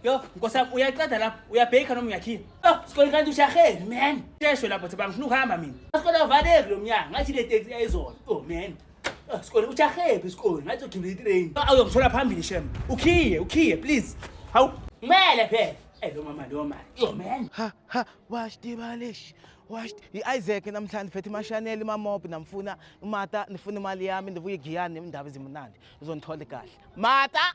Yo, nkosi yami uyaqeda lapho, uyabheka noma uyakhipha. Yo, sikole kanti ushaheni man. Sheshwe lapho thaba ngifuna ukuhamba mina. Sikole avaleki lo mnyango, ngathi le taxi yayizona. Oh man. Oh, sikole ushahephi isikole, ngathi ugibela itrain. Awu uyongithola phambili shem. Ukhiye, ukhiye please. Hawu, kumele phela. Eh lo mama lo mali. Yo man. ha ha washed ibalish washed i-isaac namhlanje phethe imashaneli imamobi namfuna umata ndifuna imali yami ndivuye igiyani indaba ezimunandi uzondithole kahle mata